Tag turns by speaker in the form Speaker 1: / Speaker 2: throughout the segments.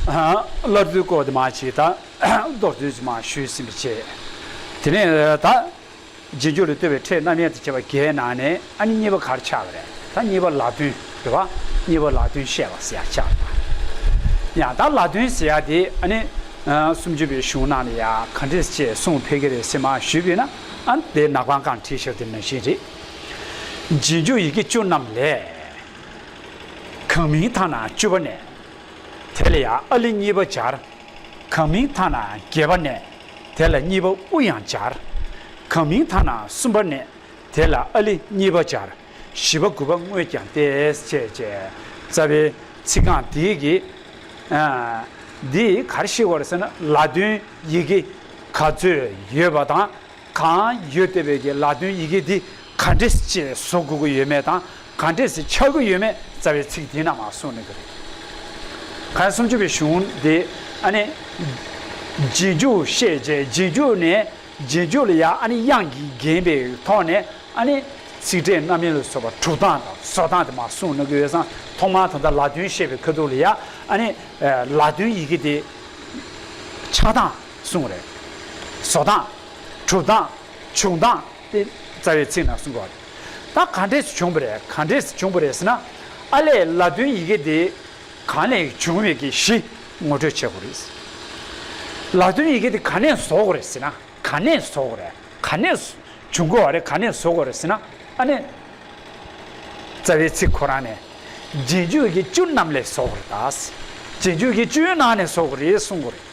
Speaker 1: སླར་དུས་བསྐོར་དུ་མ་བྱས་ད། བཟློག་བརྫུས་དུ་མ་ཞུས་སེམས་བསྐྱེད། དེ་ནས་ད། རྗེས་འཇུག་ལ་ལྟོས་པའི་ཕྲད་རྣམ་དབྱེ་དང་བཅས་པ་བརྒྱད་ནང་ནས་ཨ་ནི་གཉིས་པ་གར་ཆགས་པ་རེད་ད་གཉིས་པ་ལ་དོན་དེ་བ་གཉིས་པ་ལ་དོན་བཤད་པ་ཟེར་ཆགས་པ་ཡང་ད་ལ་དོན་ཟེར་ཡ་དེ་ཨ་ནི། སུམ་ཅུ་པའི་གཞུང་རྣམས་ལ་ཡ་ག་འདྲེས་བཅས་གསུངས་ཕེ་གི་རེད་སེ་མ་ཞུས་པས་ན་ཨ་ནི་དེ་ནག་པང་ཀང་ཁྲིད་ཤག་དེ་ནང་བཞིན་རེད། རྗེས་འཇུག་ཡི་གེ་བཅུ་རྣམས་ལས། གང་མིང་མཐའ་ན་བཅུ་བ་ནས། དེ་ལ་ཡང་ཨ་ལི་གཉིས་པ་སྦྱར། གང་མིང་མཐའ་ན་བརྒྱད་པ་ནས། དེ་ལ་གཉིས་པ་ཨུ་ཡང་སྦྱར། གང་མིང་མཐའ་ན་གསུམ་པ་ནས། དེ་ལ་ཨ་ལི་གཉིས་པ་སྦྱར། བཞི་པ་དགུ་པ་དངོས་ཀྱང་སྟེ། ཅེས་རྩ་བའི་ཚིག་རྐང་འདི་གི། འདི་གར་ཞིག་བར་ཟེར་ན་ལ་དོན་ཡི་གེ་ག་ཚོད་ཡོད་པ་དང། གང་ཡོད་དེ་བས་ཀྱི་ལག་དོན་ཡི་གེ་འདི་ག་འདྲེས་ཅེས་བཟོ་དགོས་ཀྱི་ཡོད་མེད་དང་གང་འདྲེས་ཆགས་ཀྱི་ཡོད་མེད་རྩ་བའི་ཚིག་འདི་རྣམས་གསུངས་ནས་ཀྱི་རེད། གལ་སུམ་ཅུ་པའི་གཞུང་འདི་ཨ་ནི། རྗེས་འཇུག་བཤད་བྱའི་རྗེས་འཇུག་ནས་རྗེས་འཇུག་ལ་ཡ་ཨ་ནི་དབྱངས་ཀྱིས་བརྒྱན་པའི་ཐོག་ནས་ཨ་ནི། ཚིག་ཕྲད་རྣམ་དབྱེ་ལ་སོགས་པ་དྲུག་སྟངས་དང་སོ་སྟངས་དེ་མ་གསུངས་ནས་ཀྱི་ཡོད་སང་ཐོག་མར་ད་ལྟ་ལག་དོན་བཤད་པའི་ཁ་ཐུག་ལ་ཡ་ཨ་ནི། ལག་དོན་ཡི་གེ་འདི་ཆགས་སྟངས། གསུང་རེད། བཟོ་སྟངས། གྲུབ་སྟངས། བྱུང་སྟངས་དེ་རྩ་བའི་ཚིག་ནང་གསུང་དགོས་པ་རེད། ད་ག་འདྲས་བྱུང་བ་རེད་ག་འདྲས་བྱུང་བ་རེད་ཟེར་ན། ཨ་ལས་ལ་དོན་ཡི་གེ་དེ་གང་ནས་བྱུང་མེད་ཀྱི་གཞི་ངོ་སྤྲོད་བྱེད་དགོས་རེད། ལ་དོན་ཡི་གེ་དེ་ག་ནས་བཟོ་དགོས་རེད་ཟེར་ན་ག་ནས་བཟོ་དགོས་རེད་ག་ནས་བྱུང་དགོས་བ་རེད་ག་ནས་བཟོ་དགོས་རེད་ཟེར་ན་ཨ་ནས་རྩ་བའི་ཚིག་ཁོ་རང་ནས་རྗེས་འཇུག་གི་བཅུ་རྣམས་ལས་བཟོ་དགོས་རེད་ད། རྗེས་འཇུག་གི་བཅུའི་ནང་ནས་བཟོ་དགོས་རེད་གསུང་དགོས་རེད།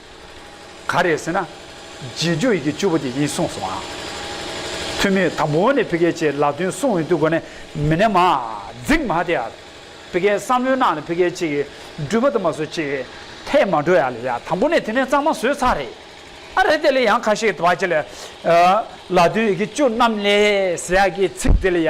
Speaker 1: ག་རེད་ཟེར་ན། རྗེས་འཇུག་ཡི་གེ་བཅུ་པོ་དེ་ཡིན་གསུངས་སོང་ཨང། འཐུས་མིས་དང་པོ་ནས་ཕི་ཀའི་ཆེད་ལག་དོན་སྲུང་འོས་བསྡུ་སྒོ་ནས་མི་སྣ་མ་འཛིགས་མ་དེ་ཨར། ཕི་ཀའི་བསམ་བློའི་ནང་ལ་ཕི་ཀའི་ཆེད་ཀྱི་འགྲུལ་པ་དུ་མ་སོ་ཆེད་ཐད་མ་འགྲོ་ཡ་ལ་ཡ་དང་པོ་ནས་དེ་ནས་གཙང་མ་བཟོས་ཚར་རེད། ཨ་རེད་དེ་ལ་ཡང་ཁ་ཤས་དུ་བ་ཆེ་ལ། ལག་དོན་ཡི་གེ་བཅུ་རྣམས་ལས་ཟེར་ཡག་གི་ཚིག་དེ་ལ་ཡ།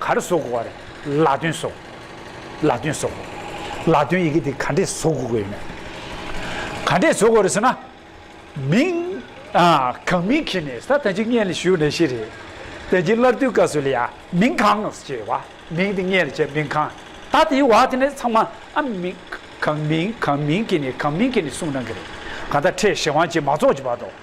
Speaker 1: གར་བཟོ་དགོས་བ་རེད། ལག་འདོན་བཟོ། ལག་འདོན་བཟོ། ལག་འདོན་ཡི་གེ་དེ་ག་འདྲས་བཟོ་དགོས་དགོས་ཡོད་མེད། ག་འདྲས་བཟོ་དགོས་རེད་ཟེར་ན། མིང། གང་མིང་གི་ནས་ས་ད་ཅི་ངས་ལ་ཞུ་ནས་ཤེས་རེད། ད་ཅི་སླར་བསྡུ་དཀའ་ཟོས་ལ་ཡ། མིང་གང། ཅེས་བ། མིང་དེ་ངས་ལ་བྱས་མིང་གང། ད་དེའི་བ་དེ་ནས་ཚང་མ་ཨ། མིང། གང་མིང་གང་མིང་གི་ནས་གང་མིང་གི་ནས་གསུངས་གནང་གི་རེད། གང་ད་ཁྲེས་ཞེ་དབང་ཅིག་མ་རྫོགས་ཀྱི་བར་དུ།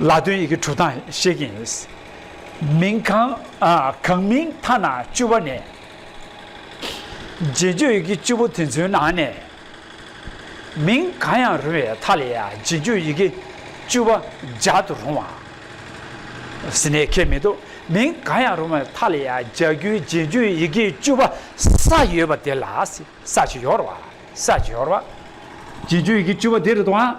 Speaker 1: ལ་དོན་ཡི་གེ་དྲུག་དང་ཤེས་ཀྱིན་ཡོད། མིང་གང་གང་མིང་མཐའ་ན་བཅུ་བ་ནས། རྗེས་འཇུག་ཡི་གེ་བཅུ་པོ་དེ་ཚོའི་ནང་ནས། མིང་གང་ཡང་རུང་བའི་མཐའ་ལས་རྗེས་འཇུག་ཡི་གེ་བཅུ་བ་སྦྱར་དུ་རུང་བ། ཟིན་ནས་ཁས་མི་འདུག་མིང་གང་ཡང་རུང་བའི་མཐའ་ལས་སྦྱར་རྒྱུའི་རྗེས་འཇུག་ཡི་གེ་བཅུ་བ་ས་ཡོད་པ་དེ་ལ་ས་བྱི་ཡོར་བ། རྗེས་འཇུག་ཡི་གེ་བཅུ་བ་དེ་རེད་དོ་ཨ།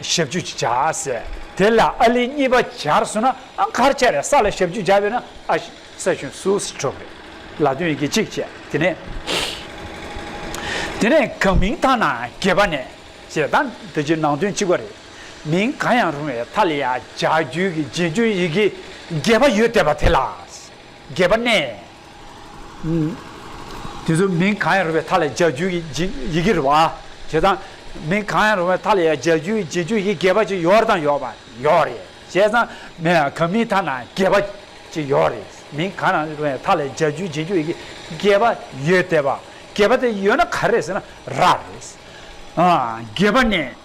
Speaker 1: ཞབས་བཅུ་བྱ་ཟེར། དེ་ལ་ཨཱ་ལི་གཉིས་པ་སྦྱར་སོང་ན་ཨཱ་མཁར་ཆ་རེ་ས་ལ་ཞབས་བཅུ་སྦྱར་བས་ན་ཨ་ས་ཞུན་སུའུ་སི་གྲོགས་རེ་ལ་དོན་ཡི་གེ་གཅིག་བྱས་དེ་ནས། དེ་ནས་གང་མིང་མཐའ་ན་གྱེས་པ་ནས་ཞེས་དང་འདི་རྗེས་ནང་དོན་གཅིག་པ་རེད། མིང་གང་ཡང་རུང་བའི་མཐའ་ལ་ཡང་ལྗགས་རྒྱུད་ཀྱི་རྗེས་འཇུག་ཡི་གེ་བརྒྱད་པ་ཡོད་བསྡད་པ་དེ་ལ་གྱེས་པ་ནས། དེ་ཚོ་མིང་གང་ཡང་རུང་བའི་མཐའ་ལས་སྦྱར་རྒྱུ་ཡི་ཡི་གེ་རུ་བ། དེ་དང། མིང་གང་ཡང་རུང་བའི་མཐའ་ལས་ཡང་སྦྱར་རྒྱུ་ཡི་རྒྱུ་ཡི་གེ་བ་ཅིག་ཡོར་དང་ཡོག་བ་ཡོག་རེ། བྱས་ཙང། གང་མིང་མཐའ་ན་གེ་བ་ཅིག་ཡོག་རེ། མིང་གང་ཡང་རུང་བའི་མཐའ་ལས་སྦྱར་རྒྱུ་ཡི་རྒྱུ་ཡི་གེ་བ་ཡོད་དེ་བ། གེ་བ་དེ་ཡོད་ན་ག་རེ་ཟེར་ན་ར་རེ། གེ་བ་ནི།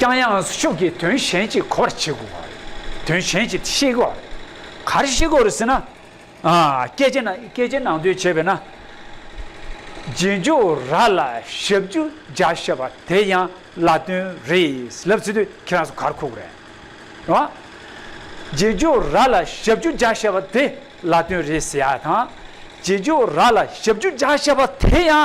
Speaker 1: ཀྱང་ཡང་ཤུགས་ཀྱིས་དོན་གཞན་གྱི་གོ་བར་བྱེད་དགོས་པ་རེད། དོན་གཞན་གྱི་ཤེས་དགོས་པ་རེད། ག་རེ་ཤེས་དགོས་རེད་ཟེར་ན། སྐད་ཆའི་ནང་དོན་བྱས་པས་ན། རྗེས་འཇུག་ར་ལ་ཞབས་ཀྱུ་རྒྱ་བཤད་པ་དེ་ཡང་བླ་དོན་རེད་ལབ་ཚེ་དུས་ཁྱེད་རང་ཚོ་གར་ཁུག་རེད། རེད་བ། རྗེས་འཇུག་ར་ལ་ཞབས་ཀྱུ་རྒྱ་བཤད་པ་དེ་བླ་དོན་རེད་ཟེར་ཡ་དང། རྗེས་འཇུག་ར་ལ་ཞབས་ཀྱུ་རྒྱ་བཤད་པ་དེ་ཡང་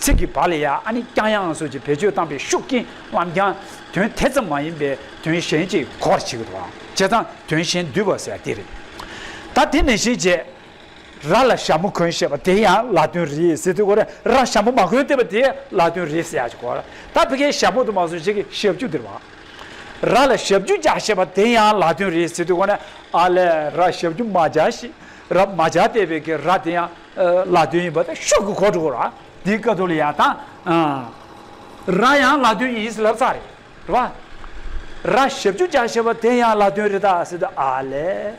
Speaker 1: ཚིག་གི་བར་ལ་ཡ་ཨ་ནི་ཀྱང་ཡང་སོགས་ཀྱི་བེད་སྤྱོད་བཏང་པའི་ཤུགས་ཀྱིས་ལམ་ཀྱང་དོན་དེ་ཙམ་མ་ཡིན་པའི་དོན་གཞན་གྱི་གོར་བྱེད་དོ། བྱེད་དང་དོན་གཞན་བསྡུས་པར་ཟེར་དེ་རེད། ད་དེ་ནས་གཞི་བྱེས་ར་ལ་ཞྭ་མོ་གོན་ཞེས་པ་དེ་ཡང་ལ་དོན་རེད་ཟེར་དུས་གོར་ར་ཞྭ་མོ་མ་གོན་བལྟས་པ་དེ་ལ་དོན་རེད་ཟེར་ཡག་ཅིག་གོ། ད་བི་ཁའི་ཞྭ་མོ་དུ་མ་སོགས་བྱེས་ཀྱི་ཞབས་ཀྱུ་འདིར་བ། ར་ལ་ཞབས་ཀྱུ་བྱ་ཞེས་པ་དེ་ཡང་ལ་དོན་རེད་ཟེར་དུས་གོ་ཨ་ལས་ར་ཞབས་ཀྱུ་མ་བྱ་ཞེས་ར་མ་བྱ་བལྟས་པའི་གི་ར་དེ་ཡང། ལ་དོན་ཡིན་པ་དང་ཤུགས་ཀྱི་གོ་དྲུག་ར་དེའི་ཀ་ཏོ་ལི་ཡ་དང། ར་ཡང་ལ་དོན་ཡིན་ཟེར་ལབ་ཙག་རེད་རེད་པ། ར་ཞབས་བཅུ་བརྒྱ་ཞེས་པ་དེ་ཡང་ལ་དོན་རེད་ད་ཟེར་དུས་ཨ་ལས།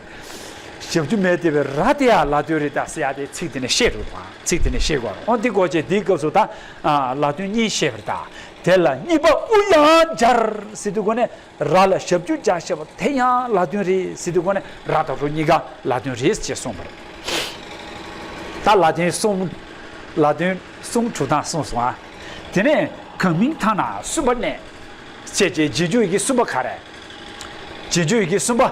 Speaker 1: ཞབས་བཅུ་མེད་དེ་བས་ར་དེ་ཡང་ལ་དོན་རེད་ད་ཟེར་ཡ་དེ་ཚིག་དེ་ནས་ཤེས་དགོས་པ་ཚིག་དེ་ནས་ཤེས་དགོས་རོང་དེ་གོ་ཆེད་དེའི་སྐབས་སུ་ད་ལ་དོན་གཉིས་ཤེས་པར་གདའ་དེ་ལ་གཉིས་པ་དབུ་ཡང་སྦྱར་ཟེར་དུས་གོ་ནས། ར་ལ་ཞབས་ཀྱུ་བཅའ་ཞེས་པ་དེ་ཡང་ལ་དོན་རེད་སྲིད་དུ་གོ་ནས་ར་དང་རོ་གཉིས་ཀ་ལ་དོན་རེད་ཅེས་གསུངས་པ་རེད། ད་ལ་དོན་གསུམ་ལ་དོན་གསུམ་དྲུག་དང་གསུངས་སོང་ཨ། དེ་ནས་གང་མིང་ཐ་ན་གསུམ་པ་ནས་བྱས་རྗེས་རྗེས་འཇུག་ཡི་གེ་གསུམ་པ་ག་རེ། རྗེས་འཇུག་ཡི་གེ་གསུམ་པ།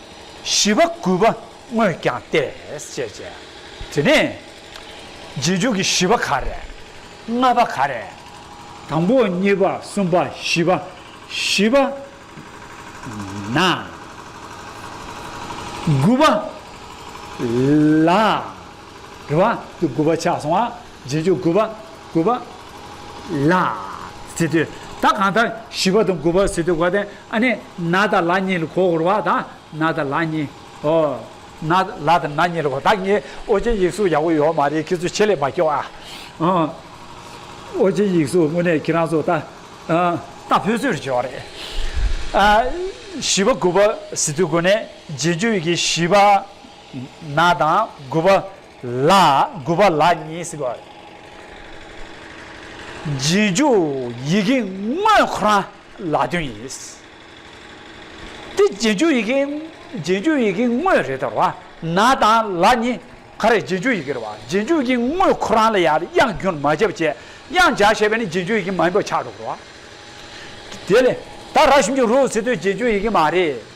Speaker 1: བཞི་པ་གུས་པ་དངོས་བསྐྱངས་ཏེ། ཅེས་བྱ། དེ་ནས། རྗེས་འཇུག་གི་བཞི་པ་ག་རེ། ལྔ་པ་ག་རེ། དང་པོ་གཉིས་པ་གསུམ་པ་བཞི་པ། བཞི་པ། ན། དགུ་པ། ལ། རེ་བ། དགུ་པ་ཆགས་སོང་བ། རྗེས་འཇུག་དགུ་པ། དགུ་པ། ལ། ཟི་དུ་ད་གང་ལྟར་བཞི་པ་དང་དགུ་པ་ཟི་དུ་གོ་དེ་ཨ་ནི་ན་དང་ལ་གཉིས་ལ་གོ་བོར་བ་དང་ན་དང་ལ་གཉིས་ཨོ། ན་ལ་དང་ན་གཉིས་ལ་གོ་ད་ངའི་ཨོ་རྗེ་ཡིག་གཟུགས་ཡག་པོ་ཡོད་མ་རེད་ཁྱེད་ཚོ་ཆེད་ལས་མ་སྐྱོ་ཨ། ཨོ་རྗེ་ཡིག་གཟུགས་དངོས་གནས་ཁྱེད་རང་ཚོ་ད་ད་བོད་ཚོས་ཇོ་རེད། བཞི་པ་དགུ་པ་ཟི་དུ་གོ་ནས་རྗེས་འཇུག་གི་བཞི་པ་ན་དང་དགུ་པ། ལ། དགུ་པ་ལ་གཉིས་སུ་དགོད། རྗེས་འཇུག་ཡི་གེ་དངོས་ཁོ་རང་ལ་དོན་ཡིན། དེ་རྗེས་འཇུག་ཡི་གེ་རྗེས་འཇུག་ཡི་གེ་དངོས་རེད་དོ། ན་དང་ལ་གཉིས་ག་རེ་རྗེས་འཇུག་ཡི་གེ་རེད་བ། རྗེས་འཇུག་གི་དངོས་ཁོ་རང་ལ་ཡང་དབྱངས་རྒྱུན་མ་བརྒྱབ་བྱས་དབྱངས་འཇགས་བྱས་པས་ནི་རྗེས་འཇུག་ཡི་གེ་མ་ཡིན་པ་ཆགས་འགྲོ་དགོས། དེ་ལས། ད་རགས་ཞིམ་གྱི་རོའུ་ཟེར་དུས་རྗེས་འཇུག་ཡི་གེ་མ་རེད།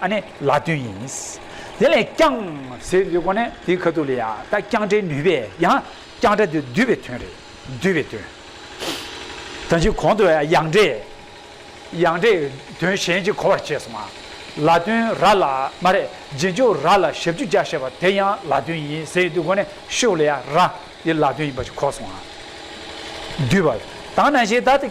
Speaker 1: ཨ་ནི་ལ་དོན་ཡིན། དེ་ལས་ཀྱང། ཟེར་འདི་ཀོ་ནི་དེའི་ཁ་ཐུག་ལ་ཡ་ད་ཀྱང་སྒྲའི་ནུས་པས་ཡང་ཀྱང་སྒྲ་དེ་བསྡུས་པའི་དོན་རེད། བསྡུས་པའི་དོན། དོན་གཅིག་གོང་དུ་ཡང་སྒྲས། ཡང་སྒྲས་དོན་གཞན་གཅིག་གོ་བར་བྱས་སོང་ང། ལ་དོན་ར་ལ་མ་རེད་རྗེས་འཇུག་ར་ལ་ཞབས་ཀྱུ་བཅའ་ཞེས་པ་དེ་ཡང་ལ་དོན་ཡིན་ཟེར་འདི་ཀོ་ནི་ཤུགས་ལ་ཡ་ར་དེ་ལ་དོན་ཡིན་པ་ཞིག་གོ་སོང་ང། བསྡུས་པ། དང་ན་ཞེས་ད།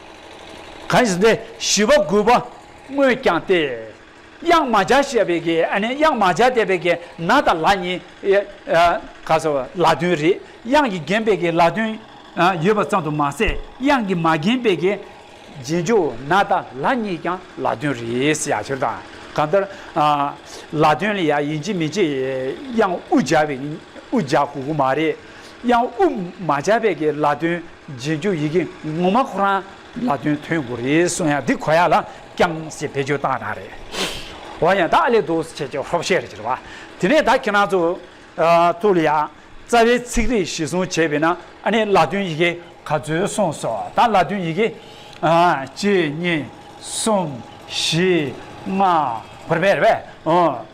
Speaker 1: གང་ཞིག་འདི་ཞི་བ་རྒུད་པ་སྔོས་བསྐྱངས་ཏེ། གཡང་མ་བྱ་བྱས་པའི་གེ་ཨ་ནི་གཡང་མ་བྱ་བསྡད་པའི་གེ་ན་དང་ལ་གཉིས། ག་ས་བ་ལ་དོན་རེད་གཡང་གིས་བརྒྱན་པའི་གེ་ལ་དོན་ཡོད་པ་ཙམ་དུ་མ་ཟད་གཡང་གིས་མ་བརྒྱན་པའི་གེ་རྗེས་འཇུག་ན་དང་ལ་གཉིས་ཀྱང་ལ་དོན་རེད་ཡ་ཆོད་དང་གང་ལྟར། ལ་དོན་ལ་ཡ་ཡིན་གྱི་མི་གྱི་གཡང་དབུ་བྱ་བའི་དབུ་བྱ་གུ་གུ་མ་རེད་གཡང་དབུ་མ་བྱ་བའི་གེ་ལ་དོན། རྗེས་འཇུག་ཡི་གེ་ངོ་མ་ཁོ་རང་ལ་དོན་ཐོན་དགོས་རེད་གསུངས་ཡང་འདི་གོ་ཡ་ལ་རྐྱང་ཞེས་བེད་སྤྱོད་བཏང་ན་རེད་འོ་ཡ་བདག་ལས་འདུག་ཟེར་བྱས་ཀྱི་ཧོབ་བཤད་རེད་ཅེས་བ་དེ་ནས་ད་ཁྱེད་རང་ཚོ་ཐུགས་ལ་ཡ་རྩ་བའི་ཚིག་རིས་གཞི་བཟུང་བྱས་པས་ན་ཨ་ནི་ལ་དོན་ཡི་གེ་ག་ཚོད་གསུངས་སོ་ད་ལ་དོན་ཡི་གེ་གཅིག་གཉིས་གསུམ་བཞི་ལྔ་བར་བས་རེད་བས།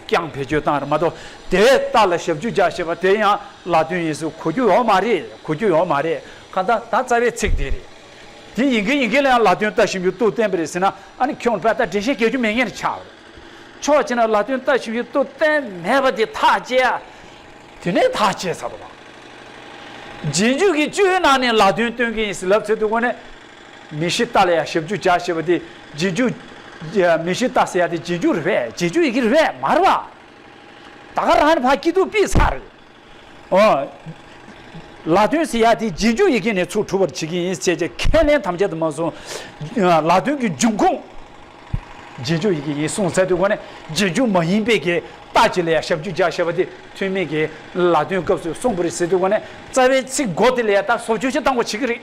Speaker 1: རྐྱང་བེད་སྤྱོད་བཏང་རེད་མ་གཏོགས་དེ་ལྟ་ལ་ཞབས་ཞུ་རྒྱག་ཞེས་པ་དེ་ཡང་ལ་དོན་ཡིན་ཟུག་གོ་རྒྱུ་ཡོད་མ་རེད་གོ་རྒྱུ་ཡོད་མ་རེད་གང་ལྟ་ད་རྩ་བའི་ཚིག་དེ་རེད་དེ་ཡིན་གི་ཡིན་གི་ལ་ཡང་ལ་དོན་ལྟ་བཞིན་པའི་སྟོབས་བསྟན་པ་རེད་ཟེར་ན་ཨ་ནི་ཁྱོད་ཕལ་ལྟ་འགྲེལ་བཤད་བྱ་རྒྱུ་མེད་ངེས་ཆགས་རེད་ཕྱོགས་གཅིག་ན་ལ་དོན་ལྟ་བཞིན་པའི་སྟོབས་བསྟན་མེད་པ་དེ་ཐག་བཅད་ཨ་དེ་ནས་ཐག་བཅད་ཚར་བ་རེད་རྗེས་འཇུག་གི་བཅུའི་ནང་ནས་ལ་དོན་སྟོན་གི་ཡིན་ཟེར་ལབ་ཚོད་དུ་གོ་ནས་མི་ཤི་རྟ་ལ་ཡང་ཞབས་ཀྱུ་བྱ་ཞེས་པ་དེ་རྗེས་འཇུག། མི་ཤི་རྟ་ཟེར་ཡ་དེ་རྗེས་འཇུག་རེད་པས་རྗེས་འཇུག་ཡི་གེ་རེད་པས་མ་རེད་པ། ད་ག་རང་ནས་ཕ་སྐྱིད་སྡུག་སྤིད་ཚར་རེད། ཨོ། ལ་དོན་ཟེར་ཡ་དེ་རྗེས་འཇུག་ཡི་གེ་ནས་ཚུར་འཁྲུ་བར་བྱེད་ཀྱི་ཡིན་ཟེར་ཅེས་ཁས་ལེན་ཐམས་ཅད་དུ་མ་གསུངས། ལ་དོན་གྱི་འབྱུང་ཁུངས། རྗེས་འཇུག་ཡི་གེ་ཡིན་གསུངས་ཚད་དུ་གོ་ནས་རྗེས་འཇུག་མ་ཡིན་པས་ཀྱི་རྟ་གྱི་ལ་ཡང་ཞབས་ཀྱུ་བྱ་ཞེས་པ་དེ་ཐུན་མིན་གྱི་ལ་དོན་སྐབས་སུ་གསུངས་པ་རེད་ཟེར་དུས་གོ་ནས་རྩ་བའི་ཚིག་མགོ་དེ་ལ་ཡང་ད་སོ་བཅུ་ཆ་གཏང་བར་བྱེད་ཀྱི་རེད།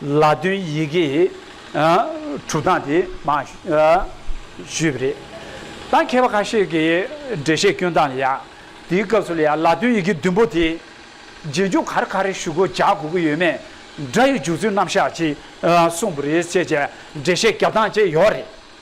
Speaker 1: ལ་དོན་ཡི་གེ་དྲུག་དང་དེ་མ་ཞུས་པ་རེད། ད་མཁས་པ་ཁ་ཤས་ཀྱིས་འགྲེལ་བཤད་སྐྱོན་དང་ལ་ཡ། དེའི་སྐབས་སུ་ལ་ཡ་ལ་དོན་ཡི་གེ་བདུན་པོ་དེ་རྗེས་འཇུག་གར་ག་རེ་ཞུ་དགོས་བྱ་དགོས་ཀྱི་ཡོད་མེད་སྒྲ་ཡི་འཇུག་ཚུལ་རྣམ་གཞག་ཅིག་གསུངས་པ་རེད་ཅེས་བྱས་འགྲེལ་བཤད་རྒྱབ་སྟངས་བཅས་ཡོད་རེད།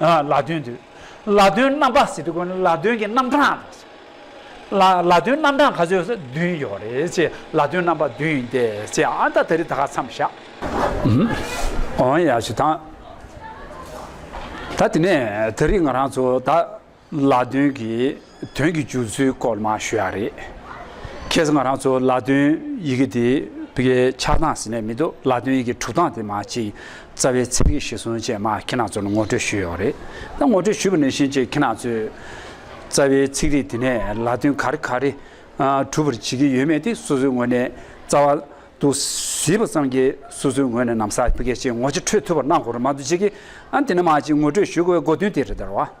Speaker 1: ལ་དོན་དུ། ལ་དོན་རྣམ་པ་ཟེར་དུས་ལ་དོན་གྱི་རྣམ་གྲངས་དང། ལ་དོན་རྣམ་གྲངས་ག་ཚོད་ཟེར་བདུན་ཡོད་རེད་ཅེས་ལ་དོན་རྣམ་པ་བདུན་ཡིན་ཏེ་ཅེས་ཨ་མདའ་ད་རི་ད་ག་མཚམས་བཞག། ཨོ་ཡ་ཞེས་དང། ད་དེ་ནས་ད་རི་ང་རང་ཚོ་ད། ལ་དོན་གྱི་དོན་གྱི་བསྒྱུར་ཚུལ་སྐོར་མ་ཞུ་ཡག་རེད། ཁྱེད་ཚོ་ང་རང་ཚོ་ལ་དོན་ཡི་གེ་དེ་བའི་ཆགས་སྟངས་ཟིན་ནས་མི་འདུག་ལ་དོན་ཡི་གེ་གྲུབ་སྟངས་དེ་མ་གཅིག་རྩ་བའི་ཚིག་གི་གཞི་ཟུང་བཅས་མ་ཁྱེད་རང་ཚོར་ངོ་སྤྲོད་ཞུས་ཡོག་རེད་ད་ངོ་སྤྲོད་ཞུས་པ་ནས་བཞིན་ཅིག་ཁྱེད་རང་ཚོས་རྩ་བའི་ཚིག་རིས་དེ་ནས་ལ་དོན་ག་རེ་ག་རེ་གྲུབ་པར་བྱེད་ཀྱི་ཡོད་མེད་དེ་སོ་སོའི་ངོས་ནས་རྩ་བ་དུ་ཟིན་པ་ཙམ་གྱིས་སོ་སོའི་ངོས་ནས་ནམ་ཟག་གི་ཕུགས་ཀྱི་ངོ་ཅི་འཕྲོད་ཐུབ་པར་གནང་དགོས་ར་མ་གཏོགས་བྱེད་ཀྱི་ཨ་དེ་ནས་མ་གཅིག་ངོ་སྤྲོད་ཞུ་དགོས་པའི་སྒོ་དོན་དེ་རེད་དཱ།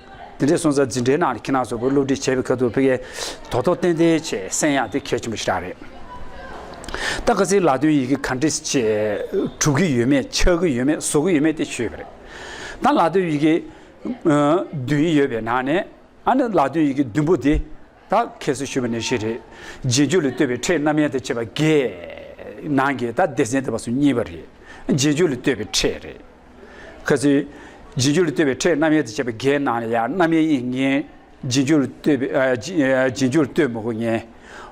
Speaker 1: དེ་འདྲའི་སོང་ཙང་འཛིན་གྲྭའི་ནང་ལ་ཁྱི་ནག་ཚོ་བོད་སློབ་ཁྲིད་བྱེད་པའི་ཁ་ཐུག་ཕི་གས་དོག་དོག་ཏན་ཏན་བྱེད་སེམས་ཡང་དེ་གལ་ཆེན་པོ་ཞིག་རག་རེད། ད་ག་ཚིག་ལ་དོན་ཡི་གེ་ག་འདྲི་བྱེད་གྲུབ་གི་ཡོད་མེད་ཆགས་གི་ཡོད་མེད་བཟོ་གི་ཡོད་མེད་དེ་ཆོས་པ་རེད། ད་ལ་དོན་ཡི་གེ་བདུན་ཡོད་པའི་ནང་ནས་ཨ་ནི་ལ་དོན་ཡི་གེ་བདུན་པོ་དེ་ད་ཁྱེད་ཚོས་ཞུས་པ་ནི་ཞིག་རེད་རྗེས་འཇུག་ལ་ལྟོས་པའི་ཕྲད་རྣམ་དབྱེ་ད་བྱེད་པ་འགས་ནང་གི་ད་སྡེ་ཚན་དེ་བ་སུ་གཉིས་པ་རེད་རྗེས་འཇུག་ལ་ལྟོས་པའི་ཕྲད་རེད། ཁ་ཚིག། རྗེས་འཇུག་ལ་ལྟོས་པའི་ཕྲད་རྣམ་དབྱེ་དང་བཅས་པ་བརྒྱད་སྣང་ལ་ཡང་རྣམ་དབྱེ་ཡིན་ངེས། རྗེས་འཇུག་ལ་ལྟོས་པའི། རྗེས་འཇུག་ལ་ལྟོས་མི་དགོས་ངེས།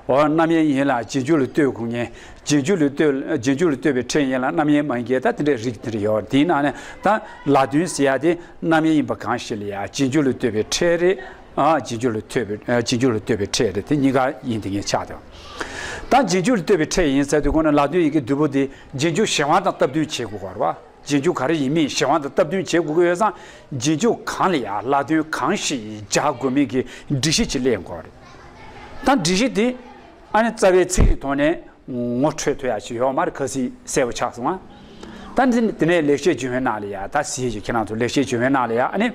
Speaker 1: འོ་རྣམ་དབྱེ་ཡིན་ལ་རྗེས་འཇུག་ལ་ལྟོས་དགོས་ངེས། རྗེས་འཇུག་ལ་ལྟོས། རྗེས་འཇུག་ལ་ལྟོས་པའི་ཕྲད་ཡིན་ལ་རྣམ་དབྱེ་མ་ཡིན་ཀྱི་ད་དེ་འདྲའི་རིགས་དེ་འདྲ་ཡོད་དེའི་ནང་ནས་ད་ལ་དོན་ཟེར་ཡག་དེ་རྣམ་དབྱེ་ཡིན་པ་གང་ཞིག་ལ་ཡང་རྗེས་འཇུག་ལ་ལྟོས་པའི་ཕྲད་རེད། རྗེས་འཇུག་ལ་ལྟོས་པའི་རྗེས་འཇུག་ལ་ལྟོས་པའི་ཕྲད་རེད་དེ་གཉིས་ཀ་ཡིན་དེ་ངེས་ཆགས་དང། ད་རྗེས་འཇུག་ལ་ལྟོས་པའི་ཕྲད་ཡིན་ཟེར་དུས་གོང་ན་ལ་དོན་ཡི་གེ་བདུན་པོ་དེ། རྗེས་འཇུག་གཞན་དབང་དང་སྟབས་བསྟུན་བྱེད་དགོས་བར་བ། རྗེས་འཇུག་ག་རེ་ཡིན་མིན་གཞན་དབང་དང་སྟབས་བསྟུན་བྱེད་དགོས་ཀྱི་ཡོད་ཙང་རྗེས་འཇུག་གང་ལ་ཡང་ལ་དོན་གང་ཞིག་སྦྱར་དགོས་མིན་གྱི་སྒྲིག་གཞི་ཅིག་གླེང་དགོས་བ་རེད། ད་སྒྲིག་གཞི་དེ་ཨ་ནེ་རྩ་བའི་ཚིག་གི་ཐོག་ནས་ངོ་འཕྲོད་ཐུབ་ཡག་ཅིག་ཡོད་མ་རེད་ག་སི་གསལ་བོ་ཆགས་སོང་ང། ད་དེ་ནས་ལེགས་བཤད་ཇི་བོན་ནང་ལ་ཡ་ད་སི་ཞེས་ཁྱེད་རང་ཚོ་ལེགས་བཤད་ཇི་བོན་ནང་ལ་ཡ་ཨ་ནེ་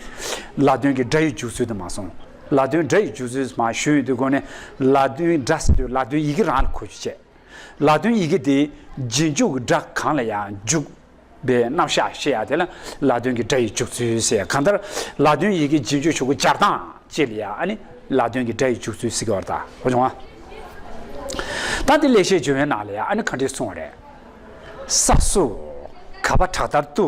Speaker 1: ལ་དོན་གྱི་སྒྲ་ཡི་འཇུག་ཚུལ་དུ་མ་སོང་ལ་དོན་སྒྲ་ཡི་འཇུག་ཚུལ་མ་ཞུས་ཡོད་དུས་སྒོ་ནས་ལ་དོན་སྒྲ་ཟེར་དུས་ལ་དོན་ཡི་གེ་རང་ལ་འཁོད་རྒྱུ་བྱས། ལ་དོན་ཡི་གེ་དེ་རྗེས་འཇུག་སྒྲ་གང་ལ་ཡང་འཇུག་པའི་རྣམ་གཞག་ཤེས་ཡག་དེ་ལ་ལ་དོན་གྱི་སྒྲ་ཡི་འཇུག་ཚུལ་ཟེར་གང་ལྟར་ལ་དོན་ཡི་གེ་རྗེས་འཇུག་ཆོས་སྐུ་སྦྱར་སྟངས་བཅས་ལ་ཡང་ནི་ལ་དོན་གྱི་སྒྲ་ཡི་འཇུག་ཚུལ་གཟིགས་པར་བལྟའོ་སྦྱོང་བ། ད་དེ་ལས་ཤེས་འབྱུང་བའི་ནང་ལ་ཡང་ནི་གང་དྲིས་གསུང་བ་རེད་ས་སུ་ག་པ་བྲག་ལྟར་དུ།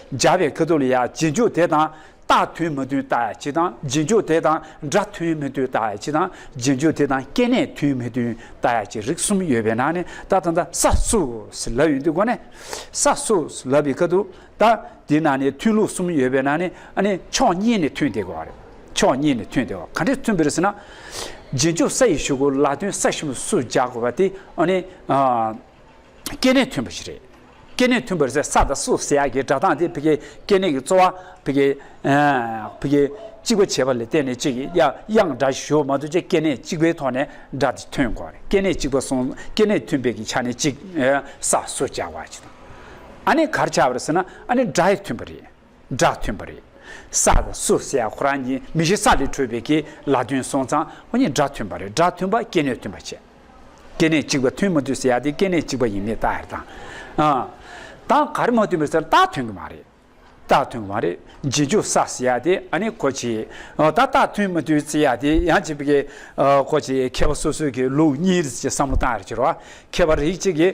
Speaker 1: སྦྱར་བའི་ཁ་དོག་ལ་ཡང་རྗེས་འཇུག་དེ་དང་རྟགས་མཐུན་མ་མཐུན་བརྟག་ཡ་མཆིས་དང་རྗེས་འཇུག་དེ་དང་སྒྲ་མཐུན་མི་མཐུན་བརྟག་ཡ་མཆིས་དང་རྗེས་འཇུག་དེ་དང་སྐྱེ་གནས་མཐུན་མི་མཐུན་བརྟག་ཡ་མཆིས་རིགས་གསུམ་ཡོད་པའི་ནང་ནས་རྟགས་དང་རྟགས་ས་སུས་ལབ་ཡོད་འདི་གོ་ནས། ས་སུས་ལབ་པའི་ཁ་དོག་དང་དེའི་ནང་ནས་མཐུན་ལུགས་གསུམ་ཡོད་པའི་ནང་ནས་ཨ་ནི་ཕྱོགས་གཉིས་ནས་མཐུན་བསྡད་དགོས་བ་རེད་ཕྱོགས་གཉིས་ནས་མཐུན་བསྡད་བ་ག་འདྲས་མཐུན་པ་རེད་ཟེར་ན། རྗེས་འཇུག་ས་ཡི་ཞུགས་གོ་ལ་དོན་ས་ཞུམ་སུས་སྦྱར་དགོས་བ་དེ་ཨ་ནི། སྐྱེ་གནས་མཐུན་པ་ཞིག་རེད། སྐྱེ་གནས་མཐུན་པར་ཟས་ས་དང་སུ་ཟས་ཀྱི་སྒྲ་གདངས་དེ་བྷི་གའི་སྐྱེ་གནས་ཀྱི་རྩོལ་བ་བྷི་གའི་བྷི་གའི་གཅིག་པ་བྱེད་པ་ལས་གཏན་ནས་གཅིག་གི་དབྱངས་སྒྲ་ཞིག་ཞུ་བ་མ་གཏོགས་ཆེས་སྐྱེ་གནས་གཅིག་པའི་ཐོག་ནས་སྒྲ་དེ་ཐོན་དགོས་པ་རེད་སྐྱེ་གནས་གཅིག་པ་གསུངས་སྐྱེ་གནས་མཐུན་པའི་གི་ཆ་ནས་གཅིག་ས་སུ་བྱ་བ་ཅི་དང་ཨ་ནི་གར་བྱ་བར་ཟེར་ན་ཨ་ནི་སྒྲ་ཡི་མཐུན་པ་རེད། སྒྲ་ཐོན་པ་རེད། ས་དང་སུ་བསད་ཧོ་རང་གཉིས་མི་གཞི་ས་ལས་འཕྲོས་པའི་གི་ལ་དོན་སོང་ཙང་ཧོ་གཉིས་སྒྲ་ཐོན་པ་རེད་སྒྲ་ཐོན་པ་སྐྱེ་གནས་ཐོན་པ་བྱས། སྐྱེ་གནས་གཅིག་པ་ཐོན་མ་དུས་སུ་ཡ་དེ་སྐྱེ་གནས་གཅིག་པ་ཡིན་མེད་རྟགས་ཧེར་དང། དང་ག་རེ་མ་ཐོན་པའི་སར་རྟགས་ཐོན་གི་མ་རེད། རྟགས་ཐོན་གི་མ་རེད་རྗེས་འཇུག་ས་སུ་ཡ་དེ་ཨ་ནི་གོ་བྱེད། ད་རྟགས་ཐོན་མ་དུས་སུ་ཡ་དེ་ཡང་བྱེད་པའི་གི་གོ་བྱེད་མཁས་པ་སོ་སོའི་གི་ལུགས་གཉིས་རེད་ཅེས་བསམ་བློ་བཏང་ཡོད་རེད་ཅེས་རོ། མཁས་པ་རིགས་གཅིག་གིས།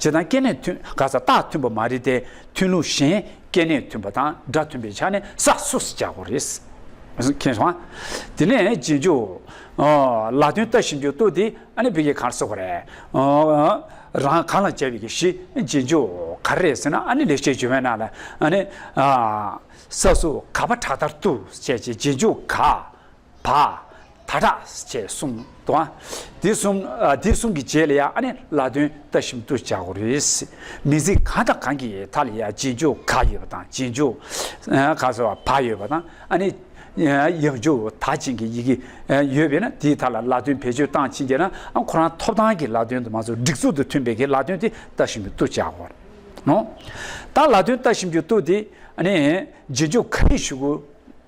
Speaker 1: བྱེད་སྟངས་སྐྱེ་གནས་མཐུན་ག་ས་རྟགས་མཐུན་པ་མ་རེད་དེ་མཐུན་ལུགས་གཞན་སྐྱེ་གནས་མཐུན་པ་དང་སྒྲ་མཐུན་པའི་ཆ་ནས་ས་སུ་སི་རྒྱག་གོ་རེད། དེ་ནས་རྗེས་འཇུག། ལ་དོན་ལྟ་ཞིབ་འཇུག་ལྟོས་དེ་ཨ་ནི་བི་ཀའི་གར་སོགས་ག་རེད། རང་གང་ལ་བྱ་བའི་གི་ཞི་རྗེས་འཇུག་ག་རེ་རེད་ཟེར་ན་ཨ་ནི་ལེགས་བཤད་ཇོ་བོན་ནང་ལ་ཨ་ནི། ས་སུ་ག་པ་དྲག་ལྟར་ལྟོས་བྱས་ཀྱི་རྗེས་འཇུག་ག། བ། ད་དྲག་ཅེས་གསུངས་དང། དེ་གསུམ་དེ་གསུམ་གྱི་རྗེས་ལ་ཡང་ཨ་ནི་ལ་དོན་ལྟ་བཞིན་དུ་བྱ་དགོས་རེད། མི་ཚིག་གང་དང་གང་གི་མཐའ་ལ་ཡང་རྗེས་འཇུག་ག་ཡོད་པ་དང་རྗེས་འཇུག་ག་ཟེར་བ་བ་ཡོད་པ་དང་ཨ་ནི་ཡང་འཇུག་ད་ཅན་གྱི་ཡི་གེ་ཡོད་པས་ན་དེའི་མཐའ་ལ་ལ་དོན་བེད་སྤྱོད་སྟངས་ཕྱིན་རྒྱ་ན་ཨ་ཁོ་རང་ཐོབ་ཐང་གི་ལ་དོན་དུ་མ་ཟུག་སྒྲིག་ཚུལ་དུ་མཐུན་པའི་གི་ལ་དོན་དེ་ལྟ་བཞིན་དུ་བྱ་དགོས་རེད། ད་ལ་དོན་ལྟ་བཞིན་དུ་དེ་ཨ་ནི་རྗེས་འཇུག་ག་རེ་ཞུ་དགོས།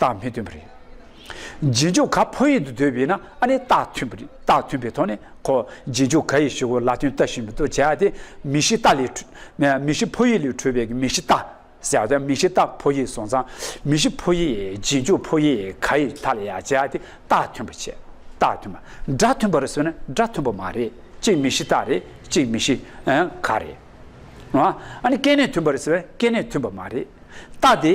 Speaker 1: རྟགས་མི་མཐུན་པ་རེད། རྗེས་འཇུག་ག་ཕོ་ཡིག་ཏུ་འདོད་པས་ན་ཨ་ནི་རྟགས་མཐུན་པ་རེད་རྟགས་མཐུན་པའི་ཐོག་ནས་གོ། རྗེས་འཇུག་ག་ཡི་ཞུ་གོ་ལ་དོན་རྟགས་ཤིན་པོ་ཏུ་བྱས་ཏེ་མི་ཤི་རྟགས་ལས། མི་ཤི་ཕོ་ཡིག་ལས་འཕྲོས་པའི་མི་ཤི་རྟགས་ཟེར་བ་དང་མི་ཤི་རྟགས་ཕོ་ཡིག་སོང་ཙང་མི་ཤི་ཕོ་ཡིག་རྗེས་འཇུག་ཕོ་ཡིག་ག་ཡི་མཐའ་ལ་ཡང་བྱས་ཏེ་རྟགས་མཐུན་པར་བྱས། རྟགས་མཐུན་པ། སྒྲ་མཐུན་པར་བཟོས་ན་སྒྲ་མཐུན་པ་མ་རེད་གཅིག་མི་ཤི་རྟགས་རེད་གཅིག་མི་ཤི་ག་རེད། ཨ་ནི་སྐད་ནས་མཐུན་པར་བཟོས་ན་སྐད་ནས་མཐུན་པ་མ་རེད། རྟགས་དེ།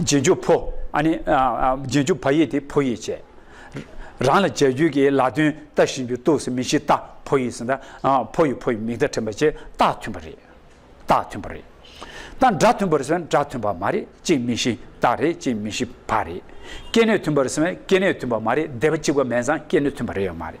Speaker 1: རྗེས་འཇུག་ཕོ། ཨ་ནི། རྗེས་འཇུག་བ་ཡིག་དེ་ཕོ་ཡིག་བྱས། རང་ལ་རྗེས་འཇུག་གི་ལ་དོན་ཏཱ་བཞིན་དུ་གཏུགས་སུ་མི་བཞི་ཏཱ་ཕོ་ཡིག་སྲིད་ཏཱ་ཕོ་ཡིག་ཕོ་ཡི་མིག་ཏཱ་ཕྲེང་བ་བཅས་ཏཱ་མཐུན་པ་རེད། ཏཱ་མཐུན་པ་རེད། ཏཱ་འདྲ་མཐུན་པར་སོན་འདྲ་མཐུན་པ་མ་རེད་གཅིག་མི་བཞི་ཏཱ་རེད་གཅིག་མི་བཞི་བ་རེད། སྐྱེ་གནས་མཐུན་པར་སོན་སྐྱེ་གནས་མཐུན་པ་མ་རེད་སྡེ་པ་གཅིག་པ་མན་བཟང་སྐྱེ་གནས་མཐུན་པ་རེད་ཡོད་མ་རེད།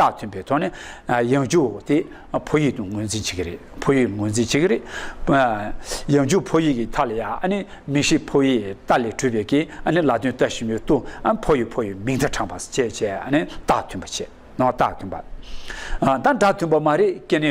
Speaker 1: རྟགས་མཐུན་པའི་ཐོག་ནས་ཡང་ཇུའོ་དེ་ཕོ་ཡིག་ཏུ་ངོས་འཛིན་བྱེད་ཀྱི་རེད་ཕོ་ཡིག་ངོས་འཛིན་བྱེད་ཀྱི་རེད། ཡང་ཇུའོ་ཕོ་ཡིག་གི་མཐའ་ལ་ཡང་མིང་ཤིག་ཕོ་ཡིག་རྟ་ལས་གྲུབ་པའི་ཀྱི་ལ་དོན་རྟ་ཞིབ་མོའི་ཏུ་ཕོ་ཡིག་ཕོ་ཡིག་མིང་མཐའ་དྲངས་པ་བཅས་བཅས་རྟགས་མཐུན་པ་བྱེད་རྟགས་མཐུན་པ། དང་སྒྲ་མཐུན་པ་མ་རེད་ཀྱི་ནི་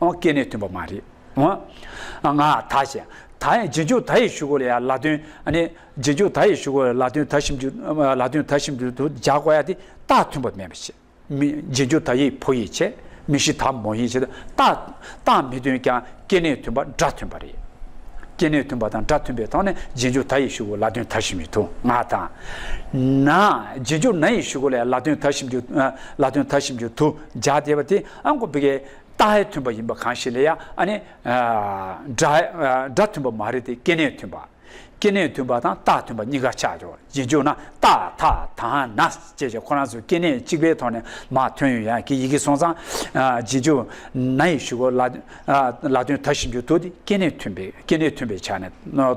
Speaker 1: ཨོང་སྐད་ནས་ཐོན་པ་མ་རེད། ཨོང། ང། ད་བཤད། ད་ཡང་རྗེས་འཇུག་ད་ཡི་ཞུ་གོ་ལ་ཡ་ལ་དོན། ནི། རྗེས་འཇུག་ད་ཡི་ཞུ་གོ་ལ་ལ་དོན་ད་ཞིབ་འཇུག། ལ་དོན་ད་ཞིབ་འཇུག་ཏུ་སྦྱར་གོ་ཡ་དེ་རྟགས་མཐུན་པ་མེད་པ་བཤད། མི། རྗེས་འཇུག་ད་ཡིག་ཕོ་ཡིག་བྱེད། མི་ཤི་ད་མོ་ཡིག་བྱེད། རྟགས། རྟགས་མི་དོན་ཀྱང་སྐད་ནས་ཐོན་པ་སྒྲ་མཐུན་པ་རེད། སྐད་ནས་ཐོན་པ་དང་སྒྲ་མཐུན་པའི་ཐོག་ནས་རྗེས་འཇུག་ད་ཡི་ཞུ་གོ་ལ་དོན་ད་ཞིབ་མི་ཐུ་ང་དང། ན། རྗེས་འཇུག་ན་ཡི་ཞུ་གོ་ལ་ཡ་ལ་དོན་ད་ཞིབ་འཇུག། ལ་དོན་ད་ཞིབ་འཇུག་ཏུ་སྦྱར་བདེ་བ་དེ་ཨང་གོ་བི་གའི། རྟགས་ཧེ་མཐུན་པ་ཡིན་པ་གང་ཞིག་ལས་ཡང་ནི། སྒྲ་མཐུན་པ་མ་རེད་དེ་སྐྱེ་གནས་མཐུན་པ། སྐྱེ་གནས་མཐུན་པ་དང་རྟགས་མཐུན་པ་གཉིས་ཀ་ཆགས་ཆོག་རྗེས་འཇུག་ན་རྟགས་དག་དང་ན་ཅེས་བྱ་ཁོ་རང་ཚོའི་སྐྱེ་གནས་གཅིག་པའི་ཐོག་ནས་མ་ཐོན་ཡོད་ཡང་གི་ཡི་གེ་སོང་ཙང། རྗེས་འཇུག་ན་ཡི་ཞུ་གོ་ལ། ལ་དོན་དག་བཞིན་འགྱུར་ཐུག་སྟེ་སྐྱེ་གནས་མཐུན་པའི་སྐྱེ་གནས་མཐུན་པའི་ཆ་ནས།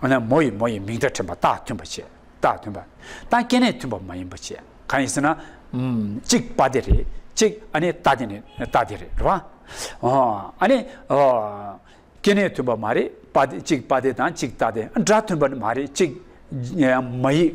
Speaker 1: འོ་ན་མོ་ཡིས་མོ་ཡི་མིང་སྒྲ་ཕྲེང་བ་རྟགས་མཐུན་པར་བྱེད། རྟགས་མཐུན་པ། དང་སྐྱེ་གནས་མཐུན་པ་མ་ཡིན་པར་བྱེད། གང་ཡིན་ཟེར་ན། གཅིག་པ་དེ་རེད། གཅིག་ཨ་ནི་རྟགས་དེ་ནི་རྟགས་དེ་རེད། རེད་བ། ཨོ། ཨ་ནི། ཨོ། སྐྱེ་གནས་མཐུན་པ་མ་རེད། པ་དེ་གཅིག་པ་དེ་དང་གཅིག་རྟགས་དེ་སྒྲ་མཐུན་པ་ནི་མ་རེད། གཅིག། མ་ཡིས།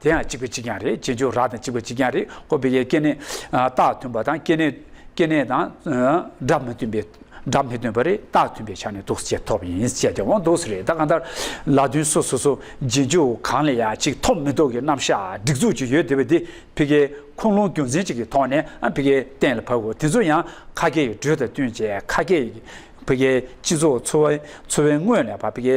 Speaker 1: དེ་ཡང་གཅིག་པའི་གཅིག་ཀྱང་རེད་ཅེས་འཇོག་རགས་དང་གཅིག་པའི་གཅིག་ཀྱང་རེད་ཀོ་བི་ཡའི་སྐྱེ་གནས། རྟགས་མཐུན་པ་དང་སྐྱེ་གནས། སྐྱེ་གནས་དང། སྒྲ་མི་མཐུན་པའི། སྒྲ་མི་མཐུན་པ་རེད་རྟགས་མཐུན་པའི་ཆ་ནས་དུག་སེལ་ཐོབ་ཡིན་བཅས་ཀྱང་དབང་དུག་རེད་ད་གང་ལྟར། ལ་དུས་སུ་སོ་སོ་རྗེས་འཇུག་གང་ལ་ཡང་གཅིག་ཐོབ་མི་ཐོབ་ཀྱི་རྣམ་གཞག་སྒྲིག་འཛུགས་ཅིག་ཡོད་དེ་བས་འདི་ཕི་ཀའི་ཁུངས་ལུང་རྒྱུ་མཚན་ཅིག་གི་ཐོག་ནས་ཕི་ཀའི་གཏན་ལ་ཕབ་དགོས་དེ་ཚོ་ཡང་ཁ་སྐད་ཀྱི་འགྲོས་དང་བསྟུན་བྱས་ཁ་སྐད། ཕི་ཀའི་སྤྱི་ཚོགས་འཚོ་བའི་དངོས་ལས་པ་ཕི་ཀའི